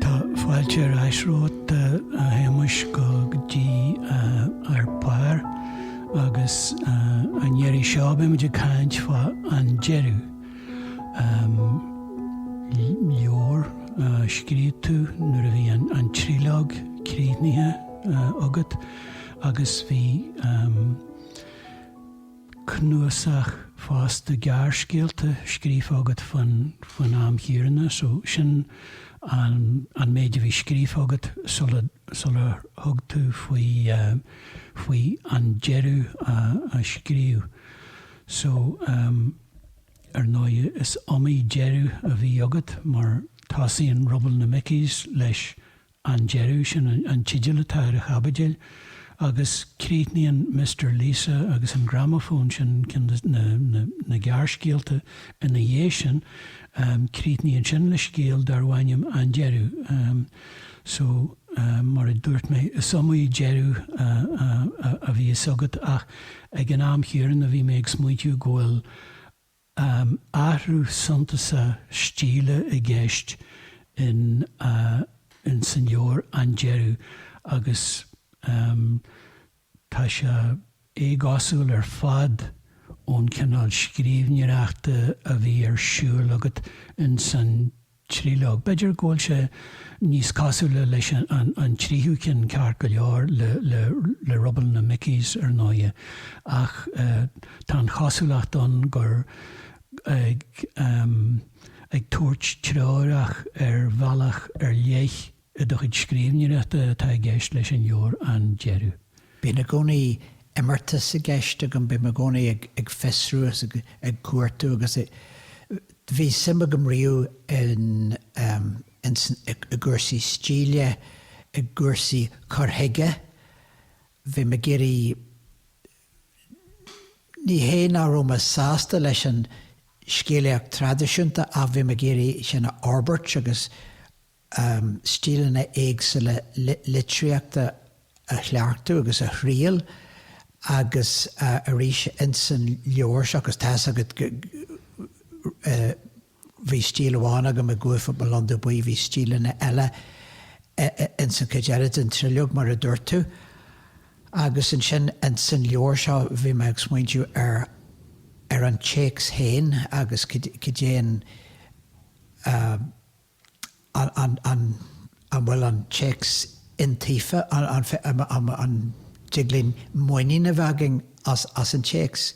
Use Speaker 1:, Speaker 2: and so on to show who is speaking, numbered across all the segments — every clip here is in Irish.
Speaker 1: Tá fáilte ar ais romhat a Shéamuis go dtí Ar Pár agus an iarraidh seo beidh muid ag caint fá An Deireadh, leabhar a scríobh tú nuair a bhí an triológ críochnaithe agat agus bhí cnuasach fosta gearrscéalta scríofa agat faoin am chéanna so sin an méid a bhí scríofa agat sular thug tú faoi an deireadh a scríobh. So ar ndóigh is iomaí deireadh a bhí agat mar tosaíonn Rubble na Mickies leis an deireadh sin an teideal atá ar an chaibidil agus críochnaíonn Mister Lisa agus an gramafón sin na gearrscéalta ina dhiaidh sin. Críochnaíonn sin le scéal darbh ainm An Deireadh. So, mar a dúirt mé, is iomaí deireadh a bhíos agat ach ag an am chéanna bhí mé ag smaointiú go bhfuil Am athrú suntasach stíle i gceist in ins an leabhar An Deireadh agus tá sé éagosúil ar fad ón cineál scríbhneoireachta a bhí ar siúl agat ins an triológ. B'fhéidir go bhfuil sé níos cosúla leis an tríú ceann ceart go leor, le Rubble na Mickies ar ndóighe, ach tá an chosúlacht ann gur ag tabhairt treorach ar bhealach ar leith I do chuid scríbhneoireachta atá i gceist leis an leabhar An Deireadh. Bíonn i gcónaí
Speaker 2: imeartas i gceist agam, bím i gcónaí ag fiosrú agus ag cuartú agus bhí suim agam riamh i gcúrsaí stíle, i gcúrsaí cur chuige, bhí mé ag iarraidh, ní hé nach raibh mé sásta leis an scéalaíocht traidisiúnta ach bhí mé ag iarraidh sin a fhorbairt agus stíleanna éagsúla litríochta a chleachtadh agus a thriail agus arís ins an leabhar seo, agus tá's agat bhí stíl amháin agam i gCuaifeach mo Londubh Buí, bhí stíleanna eile ins an chuid eile den triológ mar a dúirt tú. Agus ansin ins an leabhar seo bhí mé ag smaointiú ar ar an téacs féin agus cad é an an bhfuil an téacs iontaofa, an dtig linn muinín a bheith againn as an téacs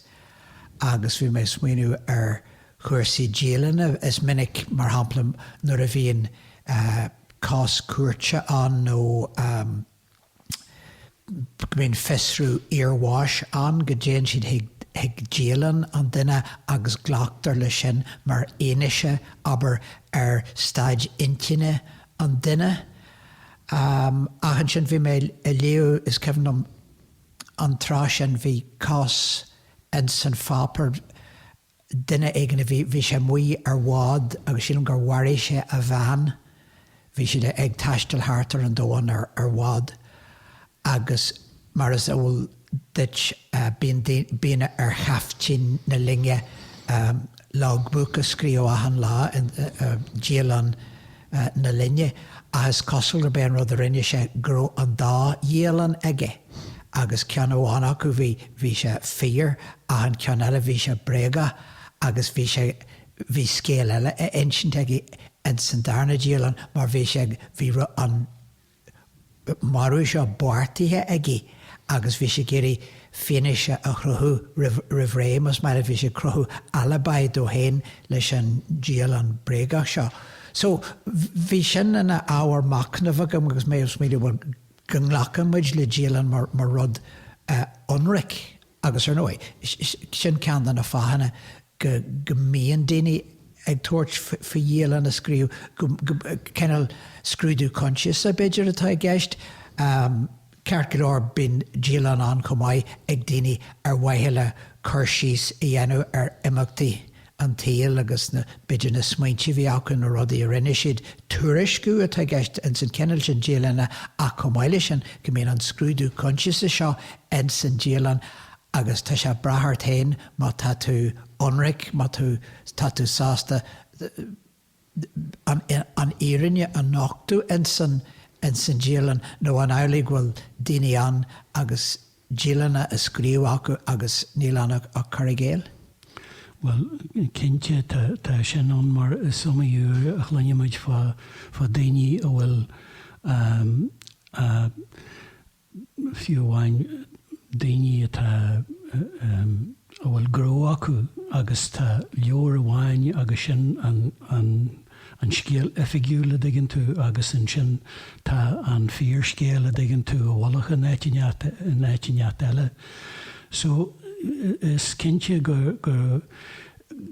Speaker 2: agus bhí mé ag smaoineamh ar chúrsaí dialainne. Is minic, mar shampla, nuair a bhíonn cás cúirte ann nó. go mbíonn fiosrú iarbháis ann, go dtéann siad chuig dialann an duine agus glactar leis sin mar fhianaise, abair, ar staid intinne an duine. Ach ansin bhí mé ag léamh, is cuimhin liom an tráth sin bhí cás in san pháipéar, duine éigin a bhí, bhí sé amuigh ar bhád agus sílim gur mharaigh sé a bhean, bhí siad ag taisteal thart ar an domhan ar, ar bhád agus mar is eol duit bíonn, bíonn ar chaiftín na loinge logbook a scríobh achan lá, dialann. na loinge ach is cosúil gurb é an rud a rinne sé go raibh an dá dhialann aige agus ceann amháin acu bhí bhí sé fíor ach an ceann eile bhí sé bréagach agus bhí sé bhí scéal eile á insint aige ins an darna dialann mar bhí sé ag bhí, bhí an marú seo beartaithe aige agus bhí sé ag iarraidh fianaise a chruthú roimh ré, más maith leat, bhí sé ag cruthú alibi dó féin leis an dialann bréagach seo. So, bhí sin ina ábhar machnaimh agam agus mé ag smaoineamh, bhuel, go nglacann muid le dialann mar rud ionraic, Agus ar ndóigh, sin ceann de na fáthanna go mbíonn daoine ag tabhairt faoi dhialann a scríobh, cineál scrúdú coinsiasa b'fhéidir atá i gceist. Ceart go leor bíonn dialann ann chomh maith ag daoine ar mhaithe le cur síos a dhéanamh ar imeachtaí an tsaoil agus na b'fhéidir na smaointe a bhí acu, na rudaí a rinne siad, tuairisciú atá i gceist ins an cineál sin dialainne ach chomh maith leis sin go mbíonn an scrúdú coinsiasa seo ins an dialann agus tá sé ag brath ort féin má tá tú ionraic, má tú tá tú sásta an fhírinne a nochtadh ins an, ins an dialann nó an amhlaidh go bhfuil daoine ann agus dialanna á scríobh acu agus níl ann ach cur i gcéill?
Speaker 1: Bhuel, cinnte tá sin ann mar is iomaí uair a chluinimid fá daoine a bhfuil fiú amháin daoine atá, a bhfuil gnó acu agus tá leabhar amháin agus sin an, an, an scéal oifigiúil a dtuigeann tú agus ansin tá an fíorscéal a dtuigeann tú i bhfolach in áit inteacht, in áit inteacht eile. So is cinnte go, go,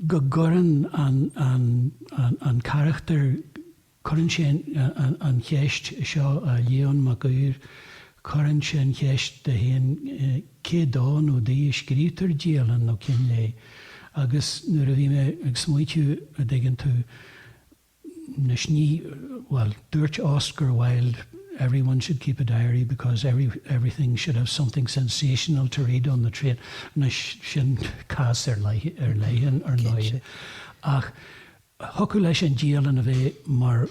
Speaker 1: go gcuireann an, an, an, an carachtar. Cuireann sé an cheist, seo a Leon Mac Uidhir, cuireann sé an cheist de héin cé dó nó di a scríobhtar dialann nó cín lae. Agus nuair a bhí mé ag smaoitiú, a' dtuigeann tú, anois ní, bhuel, dúirt Oscar Wilde everyone should keep a diary because every, everything should have something sensational to read on the train. Anois sin cás ar leith, ar leith, ar ndóigh. Ach. a thiocfadh leis an dialann a bheith mar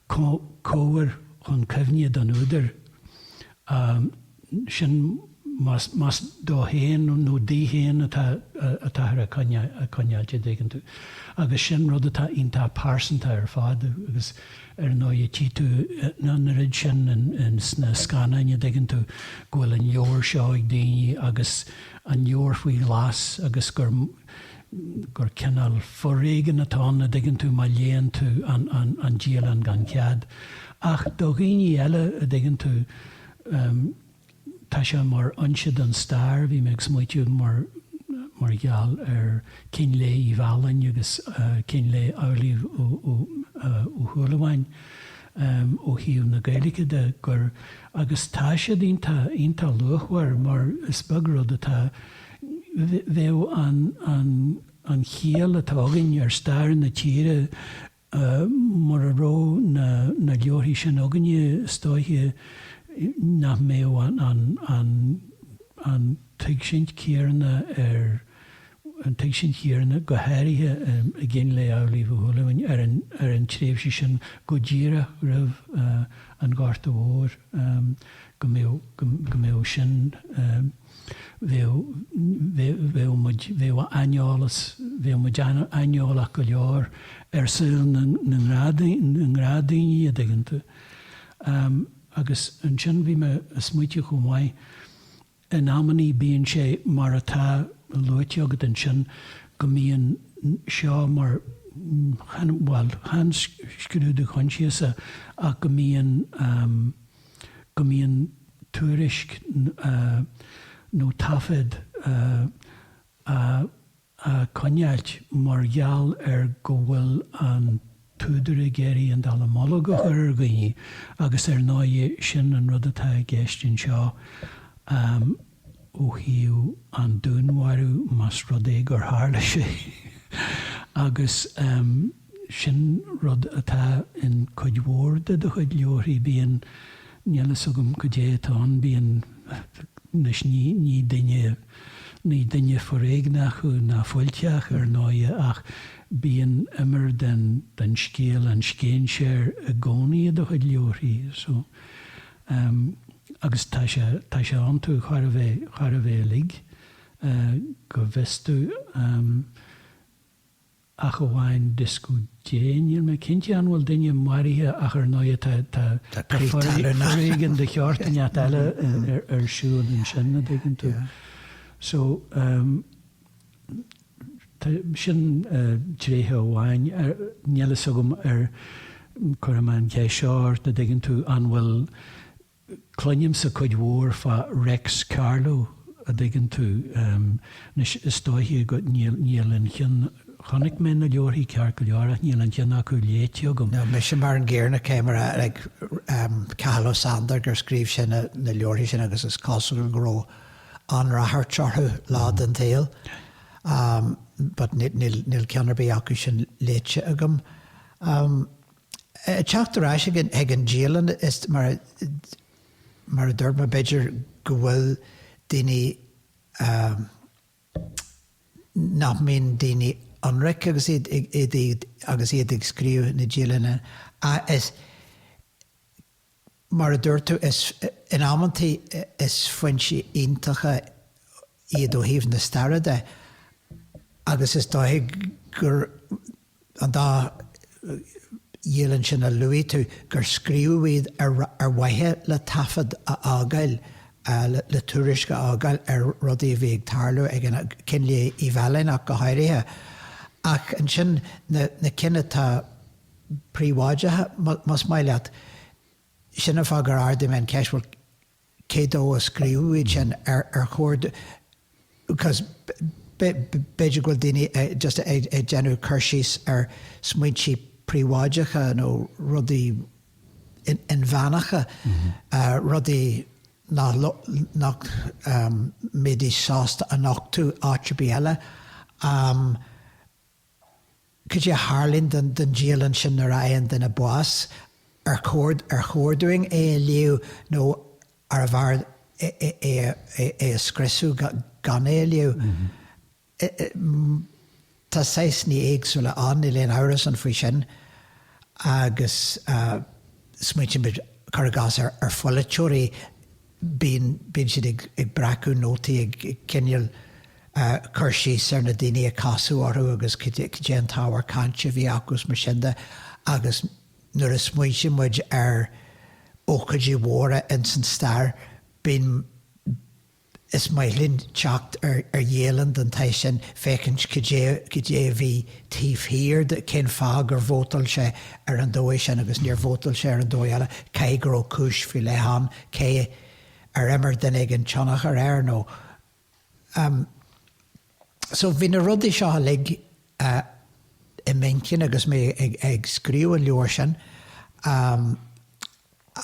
Speaker 1: chabhair chun cuimhne don údar, sin más dó héin nó di héin atáthar a choinneáil, an dtuigeann tú. Agus sin rud atá iontach pearsanta ar fad agus ar ndóigh tchí tú an oiread sin sna scannáin, an dtuigeann tú, go bhfuil an leabhar seo ag daoine agus an leabhar faoi ghlas agus gur. gur cineál foréigin atá ann, a' dtuigeann tú, má léann tú an, an, an dialann gan chead. Ach do dhaoine eile, a' dtuigeann tú, em, tá sé mar fhoinse don stair, bhí mé ag smaoitiú mar, mar gheall ar Chín Lae Uí Mhealláin agus, eh, Cín Lae Amhlaoibh Ó, Ó, eh, Ó Shúilleabháin, em, ó thaobh na Gaeilge de gur, agus tá siad iontach, iontach luachmhar mar is beag rud atá, bheadh an chiall atá againn ar stair na tíre mura raibh na leabharthaí sin againne, is dóiche nach mbeadh an tuigsint chéanna ar, an tuigsint chéanna go háirithe i gCín Lae Amhlaoibh Uí Shúilleabháin ar an tréimhse sin go díreach roimh an Ghorta Mhór, go mbeadh sin. bheadh muid, bheadh aineolas, bheadh muid aineolach go leor ar saol na ngnáthdhaoine, a dtuigeann tú. Agus ansin bhí mé a' smaoitiú chomh maith, in amannaí bíonn sé mar atá luaite agat ansin go mbíonn seo mar, chan, bhuel chan scrúdú choinsiasa ach go mbíonn, go mbíonn tuairisc nó taifead á choinneáilt mar gheall ar go bhfuil an t-údar ag iarraidh an dallamullóg a chur ar dhaoine agus ar ndóigh sin an rud atá i gceist anseo. ó thaobh an dúnmharaithe más rud é gur tharla sé agus sin rud atá in cuid mhór de do chuid leabharthaí bíonn, níl fhios agam cad é atá ann, bíonn, anois ní duine, ní duine foréigneach thú ná fuilteach ar ndóighe ach bíonn imir den scéal an scéinséir i gcónaí i do chuid leabharthaí so Um, agus tá sé, tá sé iontu chóir a bheith, chóir a bheith uilig, go bhfios dom, um, ach amháin Disco Dé. Níl mé cinnte an bhfuil duine maraithe ach ar ndóigh tá, tá, tá foréigean de sheort ínteacht eile ar siúl ansin, a dtuigeann tú. So, um, Sin tréith amháin. Níl fhios agam ar chuir mé an cheist seo ort, a' dtuigeann tú, an bhfuil, cluinimse cuid mhór fá Rex Carlo, a' dtuigeann tú, anois is dóiche go, níl, níl aon cheann, chonaic mé na leabharthaí ceart go leor ach níl aon cheann acu léite agam. No, mise mar an gcéanna,
Speaker 2: cé mar a, like, Cathal Ó Sandair gur scríobh sé na, na leabharthaí sin agus is cosúil go raibh, an-ráchairt orthu lá den tsaol but níl ceann ar bith acu sin léite agam. Ag teacht ar ais chuig an dialann, is mar a dúirt mé, b'fhéidir go bhfuil daoine nach mbíonn daoine ionraic agus iad agus iad ag scríobh na dialainne ach is Mar a dúirt tú, in amanntaí is foinsí iontacha iad ó thaobh na staire de agus is dóiche gur, an dá dhialann sin a luaigh tú, gur scríobhadh iad ar mhaithe le taifead a fhágáil, le tuairisc a fhágáil ar rudaí a bhí ag tarlú ag an am, Cinn Lae Uí Mhealláin ach go háirithe. Ach ansin na cinn atá. príobháideach, más maith leat. Sin an fáth gur ardaigh mé an cheist, bhuel, cé dó a scríobhadh iad sin? Ar chóir do, because b'fhéidir go bhfuil daoine just ag déanamh cur síos ar smaointe príobháideacha nó rudaí inmheánacha, rudaí nach mbeidís sásta a nochtadh áit ar bith eile. Cad é a tharlaíonn don dialann sin nuair a fhaigheann duine bás? Ar chóir dúinn é a léamh nó arbh fhearr é a scriosadh gan é a léamh? Tá saghsanna éagsúla ann, níl aon amhras ann faoi sin. Agus smaointímid, cuir i gcás, ar pholaiteoirí bíonn siad ag breacadh nótaí, ag coinneáil cur síos ar na daoine a casadh orthu agus cad é an t-ábhar cainte a bhí acu is mar sin de agus nuair a smaointíonn muid ar ócáidí mhóra ins an stair, bíonn, is maith linn teacht ar dhialann den saghas sin, féachaint cad é, cad é a bhí taobh thiar de, cén fáth gur vótáil sé ar an dóigh sin agus níor vótáil sé ar an dóigh eile, caithfidh go raibh cúis faoi leith ann. cé ar imir duine éigin tionchar air nó ehm so bhí na rudaí seo uilig i m'intinn agus mé ag scríobh an leabhair sin ehm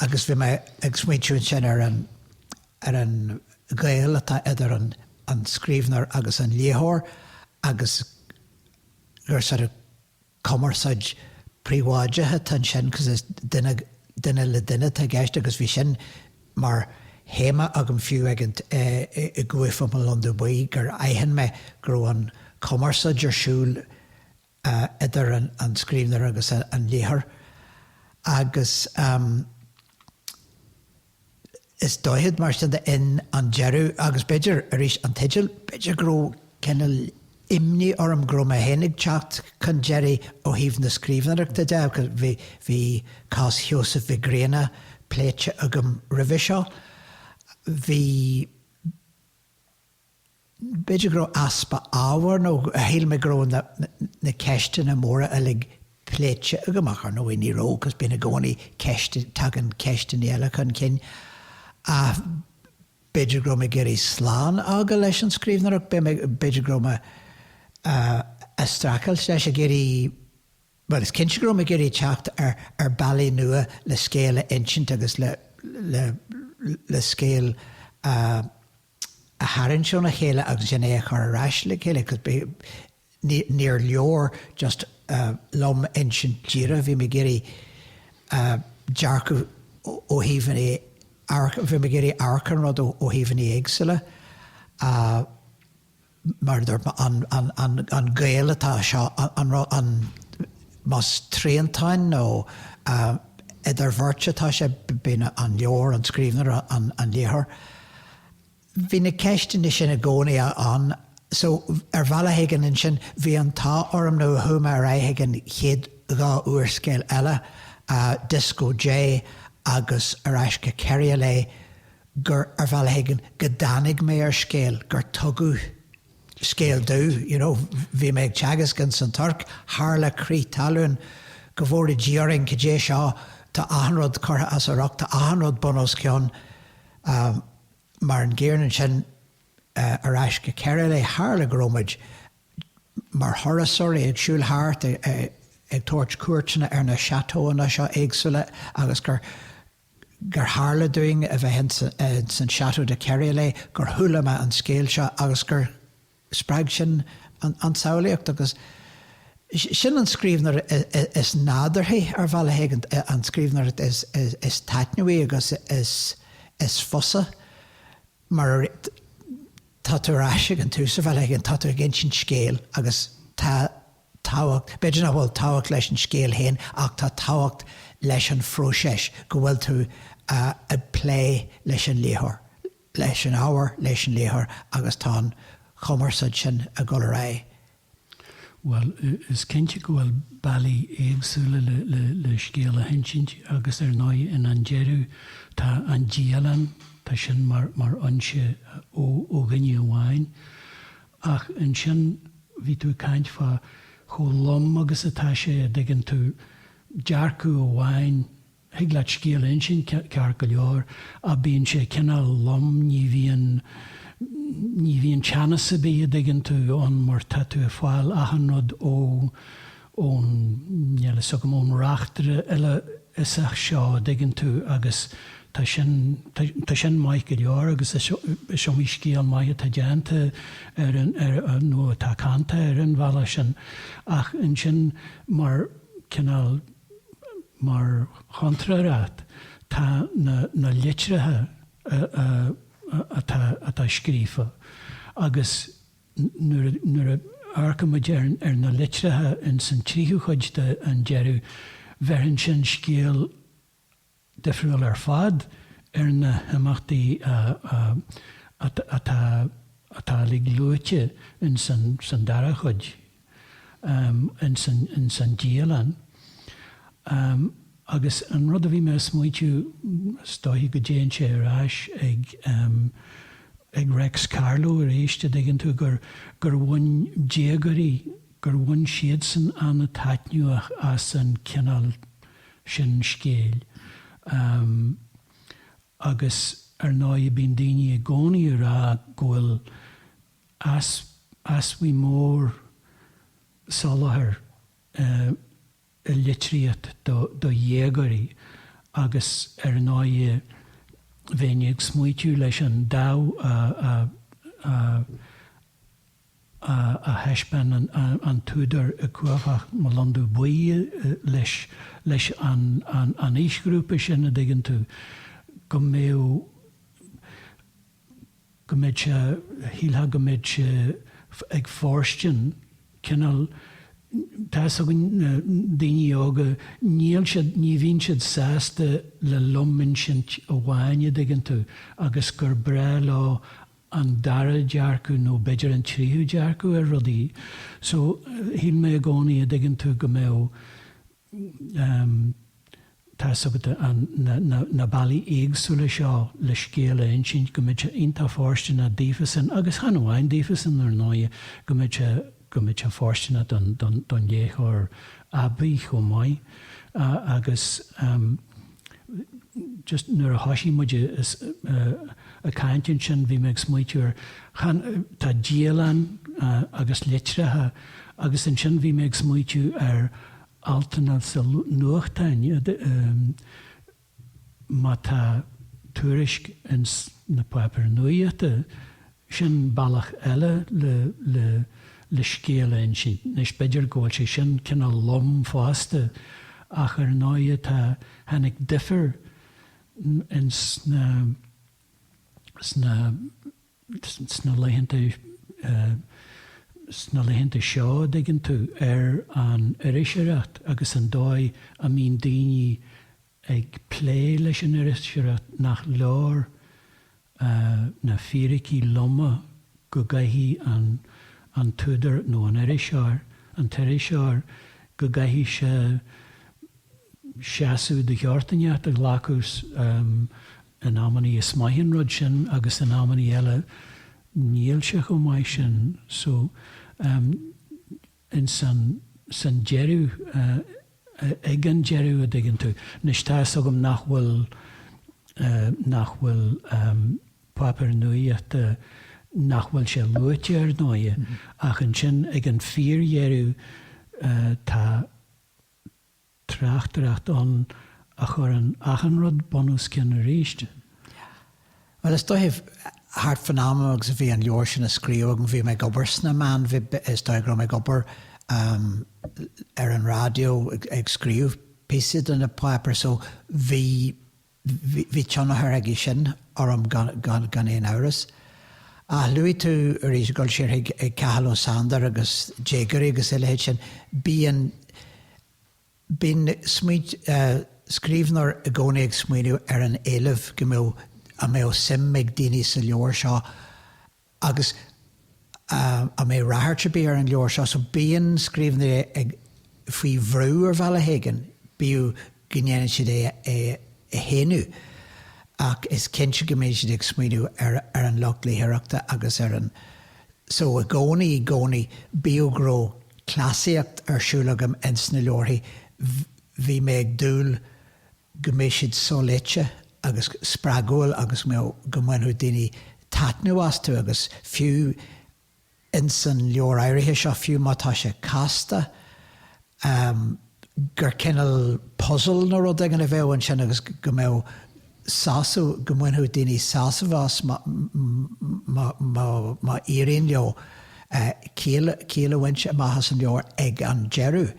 Speaker 2: agus bhí mé ag smaointiú ansin ar an ar an ghaol atá idir an an scríbhneoir agus an léitheoir agus gur sort of cumarsáid phríobháideach atá ansin cos is duine duine le duine atá i gceist agus bhí sin mar théama agam fiú ag caint i gCuaifeach mo Lon Dubh Buí gur aithin mé go raibh an chumarsáid ar siúl idir an scríbhneoir agus an léitheoir agus Is dóiche mar sin féin an deireadh, agus b'fhéidir, arís, an teideal, b'fhéidir go raibh cineál imní orm go raibh mé féin ag teacht chun deiridh ó thaobh na scríbhneoireachta de agus bhí cás Sheosaimh Mhic Grianna pléite agam roimhe seo, bhí. B'fhéidir go raibh easpa ábhair nó shíl mé go raibh na ceisteanna móra uilig pléite agam ach, ar ndóigh, ní raibh agus bíonn i gcónaí ceist, tagann ceisteanna eile chun cinn. Ach b'fhéidir go raibh mé ag iarraidh slán a fhágáil leis an scríbhneoireacht, b'fhéidir go raibh mé a' streachailt leis, ag iarraidh, bhuel is cinnte go raibh mé ag iarraidh teacht ar bealaí nua le scéal a insint agus le scéal a a tharraingt óna chéile agus ansin é a chur ar ais le chéile cos bith ní níor leor just liom insint díreach bhí mé ag iarraidh dearcadh ó thaobhanna bhí mé ag iarraidh amharc ar an rud ó thaobhanna éagsúla a mar a dúirt mé, an gaol atá seo, an más triantáin nó idirbheart atá sé, bíonn an leabhar, an scríbhneoir, an léitheoir, bhí na ceisteanna sin i gcónaí ann. So, ar bhealach éigin ansin, bhí an t-ádh orm nó chuaigh mé ar aghaidh ag an chéad dhá úrscéal eile, Dioscó Dé agus Ar Ais go Keriolet, gur, ar bhealach éigin, go dtáinig mé ar scéal, gur tugadh scéal domh, you know, bhí mé ag teagasc ins an Tuirc, tharla crith talún, go bhfóire Dia orainn, cad é seo, tá achan rud curtha as a riocht, tá achan rud bun os cionn, mar an gcéanna ansin ar ais go Keriolet, tharla go rabh muid mar thurasóirí ag siúl thart, ag tabhairt cuairteanna ar na châteaux-anna seo éagsúla agus gur, gur tharla dúinn a bheith ins an Château de Keriolet, gur chuala mé an scéal seo agus gur spreag sin an tsamhlaíocht agus sin an scríbhneoir is nádúrthaí ar bhealach éigin, an scríbhneoireacht is taitneamhaí agus is fusa mar tá tú ar ais ag an tús, ar bhealach éigin tá tú ag insint scéil agus tá tábhacht b'fhéidir nach bhfuil tábhacht leis an scéal féin ach tá tábhacht leis an phróiseas go bhfuil tú ag plé leis an léitheoir, leis an ábhar, leis an léitheoir agus tá an chumarsáid sin ag dul ar aghaidh.
Speaker 1: Bhuel, is cinnte go bhfuil bealaí éagsúla le scéal a hinsint agus ar ndóigh in An Deireadh tá an dialann, tá sin mar fhoinse ó dhuine amháin. Ach ansin bhí tú ag caint fá chomh lom agus atá sé, an dtuigeann tú, dearcadh amháin, thig leat scéal a insint ceart go leor ach bíonn sé cineál lom, ní bhíonn, ní bhíonn teannas ar bith an dtuigeann tú ann mar tá tú ag fáil achan rud ó, ón, níl a fhios agam, ón reachtaire uilefhiosach seo an dtuigeann tú agus tá sin, tá sin maith go leor agus is, is iomaí scéal maith atá déanta ar an, ar an, nó atá canta ar an bhealach sin ach ansin mar cineál, Mar chontrárthacht, tá na litreacha atá scríofa, agus nuair a amharcaimid ar na litreacha ins an tríú cuid de An Deireadh, bheireann sin scéal difriúil ar fad ar na himeachtaí atá uilig luaite insan dara cuid, insan dialann. Agus an rud a bhí mé ag smaoitiú, is dóichí go dtéann sé ar ais chuig Réics Carló arís, a' dtuigeann tú, gur bhain déagóirí, gur bhain siadsan an-taitneamh as an chineál, sin scéil. Agus ar ndóigh bíonn daoine i gcónaí ag rá go bhfuil easbhaidh mhór soláthair i litríocht do dhéagóirí agus ar ndóigh bheinn ag smaoitiú leis an dáimh a a thaispeánann an t-údar i gCumhacht, Mo Londubh Buí leis leis an an aoisghrúpa sin, a dtuigeann tú, go mbeadh go mbeadh sé shílfeá go mbeadh sé ag fóirstean cineál tá fhios agat na daoine óga níl siad ní bhíonn siad sásta le lom-insint amháin, a dtuigeann tú, agus gur breá leo an dara dearcadh nó b'fhéidir an tríú dearcadh ar rudaí so shíl mé i gcónaí a' dtuigeann tú go mbeadh ehm tá fhios agat na na na bealaí éagsúla seo le scéal a insint go mbeadh sé iontach fóirsteanach daofasan agus chan amháin daofasan ar ndóighe go mbeadh sé go mbeadh sé fóirsteanach don léitheoir aibí chomh maith agus just nuair a thoisigh muid ag caint ansin bhí mé ag smaoitiú ar, tá dialann agus litreacha agus ansin bhí mé ag smaoitiú ar altanna sna nuachtáin, má tá tuairisc ins na páipéir nuaíochta, sin bealach eile le, le, le scéal a insint. Anois, b'fhéidir go bhfuil sé sin cineál lom fosta ach ar ndóighe tá, tháinig difear ins na, sna, sna laethanta sna laethanta seo a dtuigeann tú ar an iriseoireacht agus an dóigh a mbíonn daoine ag plé leis an iriseoireacht nach leor na fíricí loma go gcaithfidh an an t-údar nó an iriseoir an t-iriseoir go gcaithfidh sé seasamh de chineál inteacht a ghlacadh In amannaí is maith an rud sin agus in amannaí eile níl sé chomh maith sin so ins an deireadh ag an deireadh an dtuigeann tú. Anois tá fhios agam nach bhfuil nach bhfuil páipéar nuaíochta nach bhfuil sé luaite ar ndóighe ach ansin ag an fíor dheireadh tá tráchtaireacht ann a chuireann achan rud bunoscionn
Speaker 2: arís. Bhuel, is dóiche, thart fán am agus a bhí an leabhar sin á scríobh agam, bhí mé ag obair sna meáin, is dóigh go raibh mé ag obair ar an raidió ag scríobh píosaí do na páipéir so bhí, Bhí tionchar aige sin orm gan aon amhras. Ach luaigh tú arís ag gabháil siar chuig Cathal Ó Sándair agus déagóirí agus a leithéid sin. Bíonn, bíonn smaoint, scríbhneoir i gcónaí ag smaoineamh ar an éileamh go mbeadh, an mbeadh suim ag daoine sa leabhar seo agus an mbeadh ráchairt ar bith ar an leabhar seo so bíonn scríbhneoirí ag faoi bhrú ar bhealach éigin, bíodh go ndéanann siad é a shéanadh ach is cinnte go mbíonn siad ag smaoineamh ar ar an lucht léitheoireachta agus ar an so i gcónaí i gcónaí bíodh go raibh cleasaíocht ar siúl agam ins na leabharthaí bhí mé ag dúil go mbeadh siad soléite agus spreagúil agus go mbeadh go mbainfeadh daoine taitneamh astu agus fiú ins an leabhar áirithe seo, fiú má tá sé casta, gur cineál puzzle nó rud éigin a bheadh ansin agus go mbeadh sásamh, go mbainfeadh daoine sásamh as má éiríonn leo ciall a bhaint amach as an leabhar ag an deireadh.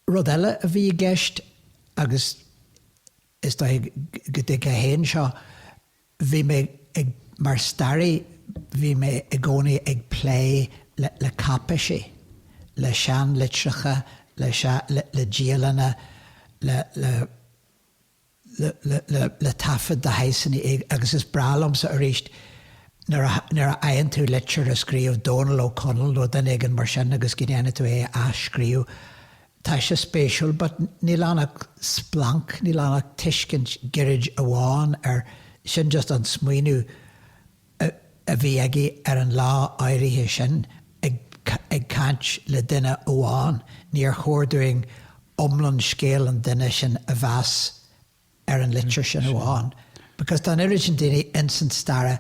Speaker 2: Rud eile a bhí i gceist, agus is dóiche go dtuigfeá féin seo, bhí mé ag, mar staraí, bhí mé i gcónaí ag plé le cáipéisí, le seanlitreacha, le dialanna, le. le taifead de shaghsanna agus is breá liomsa arís nuair a fhaigheann tú litir a scríobh Dónall Ó Conaill nó duine éigin mar sin agus go ndéanann tú é a athscríobh. Tá sé spéisiúil but níl ann ach splanc, níl ann ach tuiscint gairid amháin ar, sin just an smaoineamh, a bhí aige ar an lá áirithe sin ag caint le duine amháin, níor chóir dúinn iomlán scéal an duine sin a mheas ar an litir sin amháin, because tá an oiread sin daoine ins an stair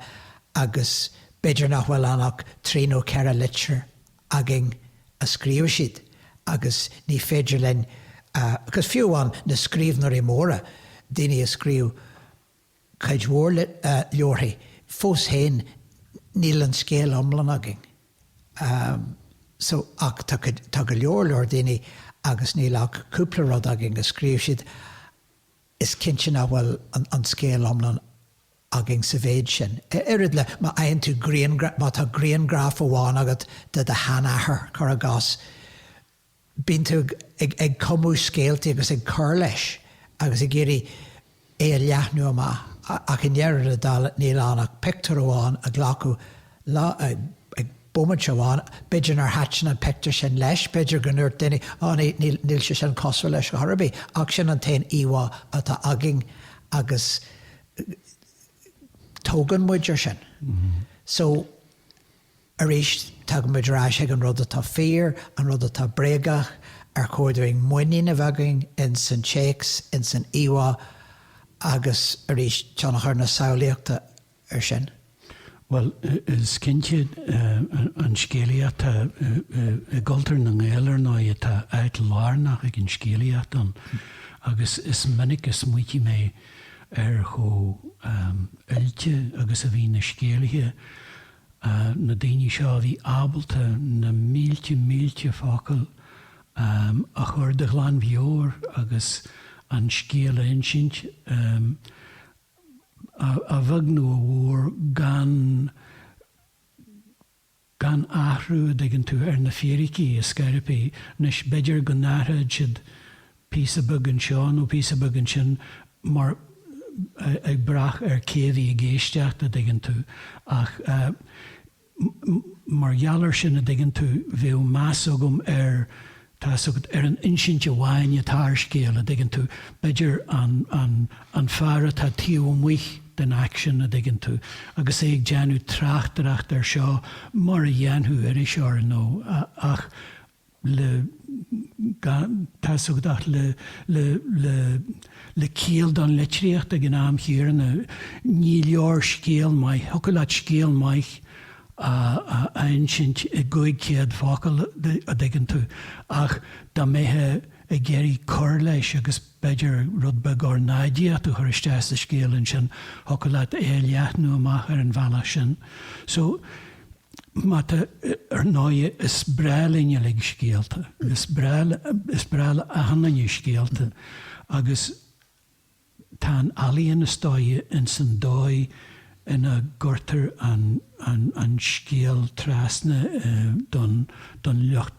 Speaker 2: agus b'fhéidir nach bhfuil ann ach trí nó ceithre litir againn a scríobh siad agus ní féidir linn, because fiú amháin na scríbhneoirí móra, daoine a scríobh. cuid mhór leabharthaí. Fós féin, níl an scéal iomlán againn. So, ach tá go leor leor daoine agus níl ach cúpla rud againn a scríobh siad, is cinnte nach bhfuil an scéal iomlán againn sa mhéid sin. Oiread le, má fhaigheann tú grianghraf, má tá grianghraf amháin agat de do sheanathair, cuir i gcás, bíonn tú ag cumadh scéaltaí agus ag cur leis agus ag iarraidh é a leathnú amach ach i ndeireadh na dála níl ann ach pictiúr amháin a glacadh ag bomaite amháin, b'fhéidir nár thaitin an pictiúr sin leis, b'fhéidir go ndúirt duine 'Á níl sé sin cosúil leis chor ar bith' ach sin an t-aon íomhá atá againn agus tógann muid air sin. So. Arís, tagann muid ar ais ag an rud atá fíor, an rud atá bréagach, ar chóir dúinn muinín a bheith againn ins an téacs, ins an íomhá agus arís tionchar na samhlaíochta air sin. Bhuel,
Speaker 1: is cinnte an scéalaíocht, i gcultúr na nGael ar ndóigh atá áit lárnach ag an scéalaíocht ann agus is minic a smaoitigh mé ar chomh oilte agus a bhí na scéalaithe, na daoine seo a bhí ábalta na mílte mílte focal a chur de ghlanmheabhair agus an scéal a insint, a bheag nó a mhór, gan gan athrú, a dtuigeann tú, ar na fíricí, a scairpigh. Anois, b'fhéidir go n-athróidh siad píosa beag anseo nó píosa beag ansin mar ag brath ar cé a bhí ag éisteacht a' dtuigeann tú ach mar gheall ar sin a' dtuigeann tú bheadh meas agam ar tá 'fhios agat ar an insint amháin atá ar scéal a' dtuigeann tú b'fhéidir an, an, an fear atá taobh amuigh den action a' dtuigeann tú agus é ag déanamh tráchtaireacht ar seo mar a dhéanfadh iriseoir nó ach, le tá sé ag teacht le ciall don litríocht ag an am chéanna. Ní leor scéal maith, thiocfadh leat scéal maith a insint i gcúig céad focal, a dtuigeann tú, ach dá mbeithí ag iarraidh cur leis agus b'fhéidir rud beag ornáidíochta a chur isteach sa scéal ansin, thiocfadh leat é a leathnú amach ar an bhealach sin. So, má tá Ar ndóigh is breá linn uilig scéalta, is breá, is breá le achan duine scéalta agus tá an ealaíon is dóighe ins an dóigh ina gcuirtear an, an, an scéal trasna don, don lucht.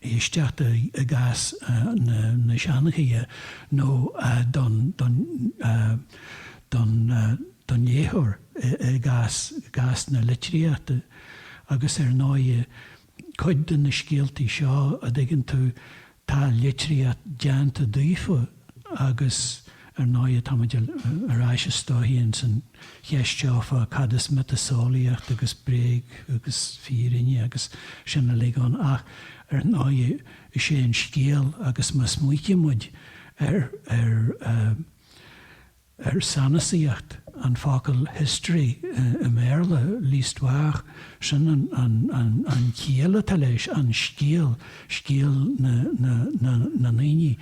Speaker 1: éisteachta i gcás na seanchaithe nó don léitheoir i gcás na litríochta agus ar ndóigh cuid de na scéaltaí seo, a dtuigeann tú, tá litríocht déanta díofa agus. Ar ndóighe, táimid ar ais isteach ins an cheist seo fá cad is miotaseolaíocht agus bréag agus fírinne agus sin uilig ann, ach ar ndóighe is é an scéal agus má smaoitímid ar ar ar sanasaíocht an fhocail history i mBéarla, l'histoire, sin an an an an chiall atá leis, an scéal, scéal na na na na ndaoine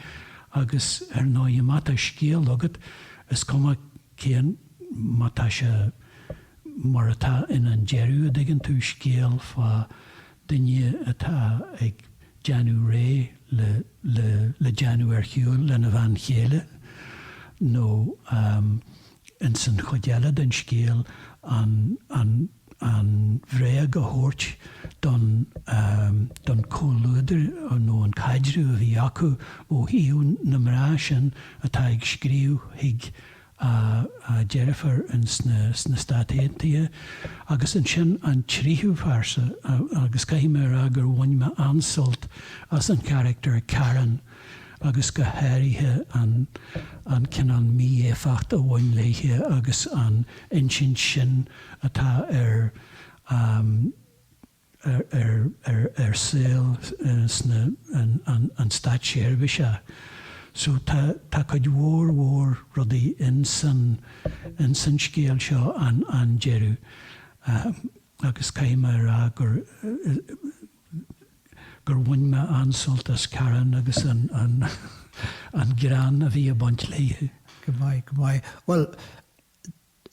Speaker 1: Agus ar ndóighe, má tá scéal agat, is cuma cén, má tá sé mar atá in An Deireadh, a' dtuigeann tú, scéal fá duine atá ag déanamh réidh le, le, le déanamh ar shiúl lena bhean chéile nó, ins an chuid eile den scéal, an an bhréag a thabhairt don don chomhluadar nó an caidreamh a bhí acu ó thaobh na mná sin atá ag scríobh chuig a deirfiúr ins na sna Stáit Aontaithe. Agus ansin an tríú pearsa agus caithfidh mé a rá gur bhain mé an-sult as an character Karen, agus go háirithe an an cineál mí-éifeacht a bhain léithe agus an insint sin atá ar ar ar ar shaol sna an an an státseirbhíse so tá tá cuid mhór mhór rudaí in san in san scéal seo an an deireadh agus caithfidh mé a rá gur gur bhain mé an-sult as Karen agus an greann a bhí ag baint léithe. Go maith, go maith.
Speaker 2: Bhuel,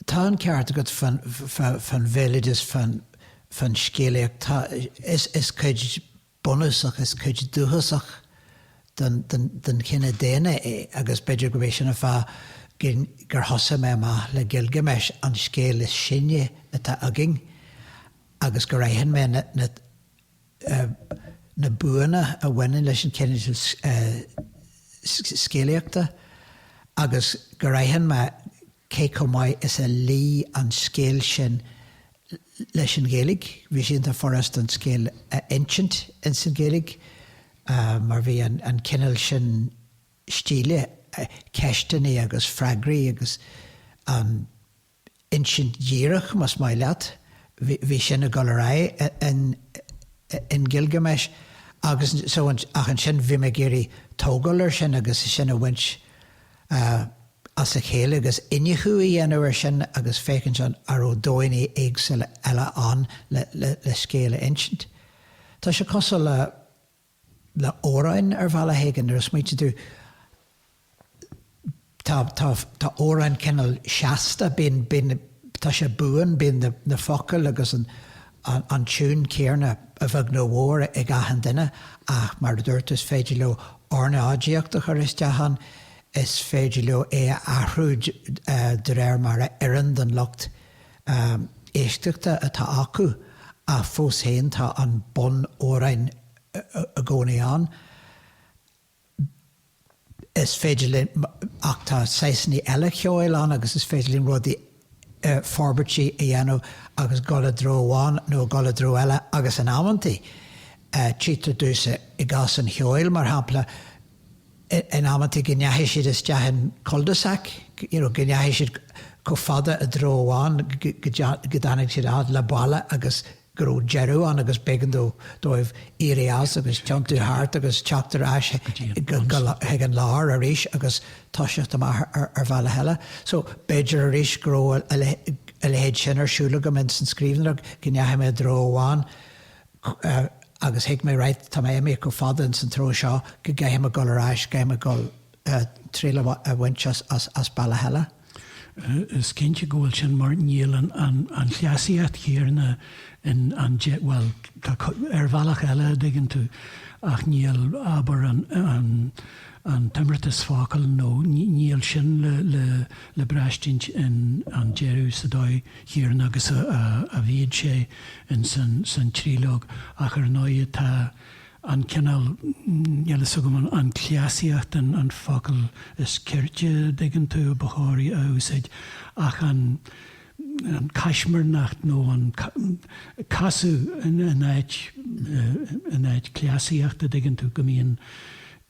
Speaker 2: tá an ceart agat fan bhéaloideas, fan scéalaíocht. Tá, is cuid bhunúsach, is cuid dhúchasach den chine daonna é agus b'fhéidir gurb é sin an fáth gur thosaigh mé amach le Gilgamesh, an scéal is sine atá againn. agus gur aithin mé na buanna a bhaineann leis an gcineál scéalaíochta agus gur aithin mé cé chomh maith is a luigh an scéal sin leis an Ghaeilge. Bhí sé iontach furasta an scéal a insint ins an Ghaeilge mar bhí an cineál sin stíle, ceisteanna agus freagraí agus an. insint dhíreach, más maith leat, bhí sin ag dul ar aghaidh in Gilgamesh agus so ach ansin bhí mé ag iarraidh tógáil ar sin agus sin a bhaint as a chéile agus iniúchadh a dhéanamh ar sin agus féachaint an a raibh dóigheanna éagsúla eile ann le scéal a insint. Tá sé cosúil le. amhráin ar bhealach éigin nuair a smaoitíonn tú tá tá tá amhráin cineál seasta bíonn bíonn tá sé buan bíonn na na focail agus an an an tiúin chéarna a bheag nó a mhór ag achan duine ach mar a dúirt is féidir leo ornáidíocht a chur isteach ann is féidir leo é a athrú de réir mar a oireann don lucht éisteachta atá acu ach fós féin tá an bunamhrán i gcónaí ann. Is féidir linn, ach tá saghasanna eile ceoil ann agus is féidir linn rudaí, forbairtí a dhéanamh agus dhul i dtreo amháin nó dhul i dtreo eile agus in amanntaí tchítear domhsa i gcás an cheoil mar shampla, in amanntaí go ndeachaigh siad isteach in cul de sac, you know go ndeachaigh siad chomh fada i dtreo amháin go dtáinig siad a fhad le balla agus go raibh deireadh ann agus b'éigean dóibh éirí as agus tiontú thart agus teacht ar ais chuig an lár arís agus toiseacht amach ar bhealach eile. So b'fhéidir arís go raibh a leithéid sin ar siúl agam insan scríbhneoireacht go ndeachaigh mé i dtreo amháin agus thuig mé right, tá mé imithe chomh fada ins an treo seo go gcaithfidh mé dhul ar ais, caithfidh mé dhul triail a bhaint as bealach eile. Is
Speaker 1: cinnte go bhfuil sin mar níl an chleasaíocht chéarna in an dé, bhuel tá ar bhealach eile a dtuigeann tú ach níl abair an t-imeartas focal nó níl sin le braistint in an deireadh sa dóigh chéanna agus a bhíodh sé insan tríológ ach ar ndóigh tá an cineál, níl a fhios agam an cleasaíocht an focal is cirte a dtuigeann tú ba chóir a úsáid ach an caismirneacht nó an casadh in áit, in áit cleasaíochta dtuigeann tú go mbíonn,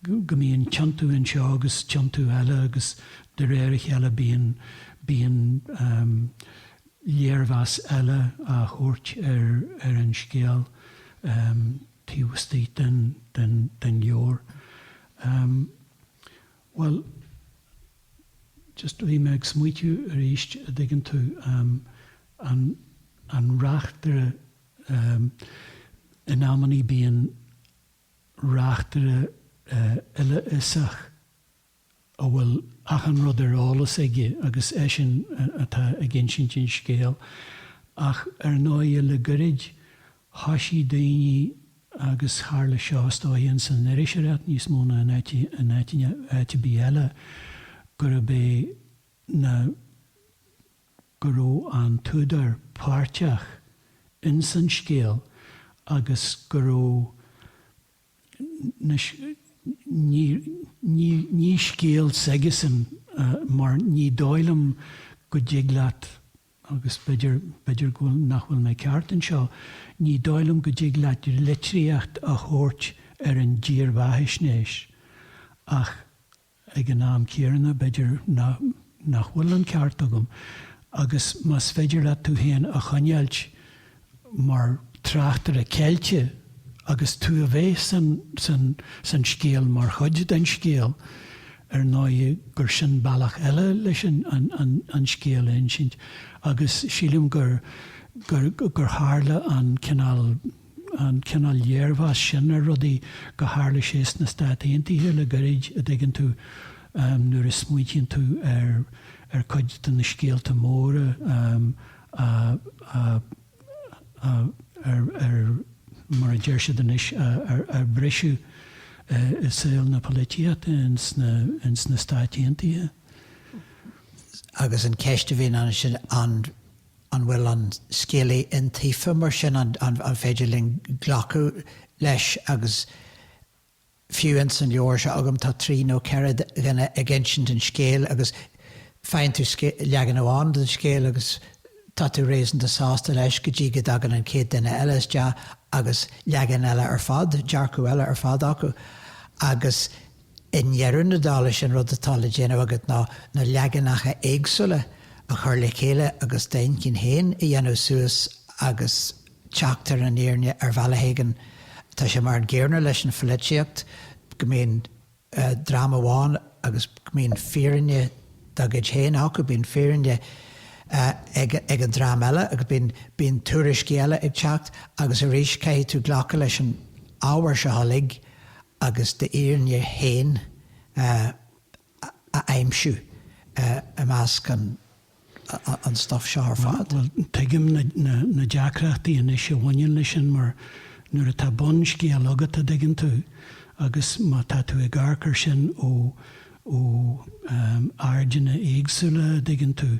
Speaker 1: go mbíonn tiontú anseo agus tiontú eile agus De réir a chéile bíonn bíonn léirmheas eile á thabhairt ar ar an scéal taobh istigh den den den leabhar. Bhuel, just bhí mé ag smaoitiú arís, a' dtuigeann tú, an an reachtaire, in amannaí bíonn reachtaire uilefhiosach, a bhfuil achan rud ar eolas aige agus eisean atá ag insint an scéil, ach ar ndóigh le goirid thoisigh daoine agus tharla seo is dóiche insan iriseoireacht níos mó ná in áit ar bith eile gurb é ná go raibh an t-údar páirteach insan scéal agus go raibh Anois, ní scéal s'aigesean mar ní dóigh liom go dtig leat, agus b'fhéidir go bhfuil nach bhfuil mé ceart anseo, ní dóigh liom go dtig leat litríocht a thabhairt ar an dírbheathaisnéis ach Ag an am chéanna, b'fhéidir nach bhfuil an ceart agam, agus más féidir leat tú féin a choinneáilt mar tráchtaire ceilte agus tú a bheith san scéal mar chuid den scéal, ar ndóigh gur sin bealach eile leis an scéal a insint agus sílim gur tharla an cineál an cineál léirmheas sin ar rudaí, go tharla sé sna Stáit Aontaithe le gairid, a' dtuigeann tú, nuair a smaoitíonn tú ar, ar chuid de na scéalta móra a, a, a, a, ar, ar, mar a deir siad anois, a, a, a briseadh i saol na polaitíochta ins na, ins na Stáit Aontaithe.
Speaker 2: Agus an cheist a bhíonn ansin, an. An bhfuil an scéalaí iontaofa mar sin? An féidir linn glacadh leis agus fiú ins an leabhar seo agam tá trí nó ceithre dhuine ag insint an scéil agus faigheann tú leagan amháin den scéal agus tá tú réasúnta sásta leis go dtí go dtagann an chéad duine eile isteach agus leagan eile ar fad, dearcadh eile ar fad acu agus. I ndeireadh na dála is é an rud atá le déanamh agat ná na leaganacha éagsúla a chur le chéile agus d'intinn féin a dhéanamh suas agus teacht ar an fhírinne ar bhealach éigin. Tá sé mar an gcéarna leis an pholaitíocht go mbíonn dream amháin agus go mbíonn fírinne dá gcuid féin acu, bíonn fírinne ag an dream eile agus bíonn tuairiscí eile ag teacht agus arís caithfidh tú glacadh leis an ábhar seo uilig agus d'fhírinne féin a aimsiú i measc an stuif seo ar fad. Bhuel, tuigim
Speaker 1: na deacrachtaí anois a bhaineann leis sin mar nuair atá bunscéal agat a' dtuigeann tú agus má tá tú ag amharc ar sin ó ó airdeanna éagsúla a' dtuigeann tú,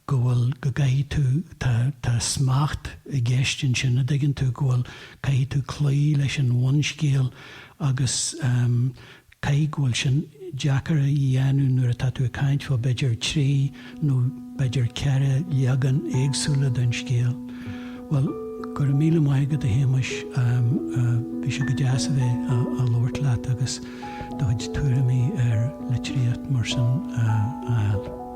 Speaker 1: go bhfuil, go gcaithfidh tú, tá, tá smacht i gceist ansin, a' dtuigeann tú, go bhfuil, caithfidh tú cloí leis an bhunscéal agus ehm caithfidh, go bhfuil sin deacair a dhéanamh nuair atá tú ag caint fá b'fhéidir trí nó b'fhéidir ceithre leagan éagsúla den scéal. Bhuel, go raibh míle maith agat a Shéamais, ehm bhí sé go deas a bheith a' a' labhairt leat agus do chuid tuairimí ar
Speaker 2: litríocht
Speaker 1: mar sin a
Speaker 2: fháil.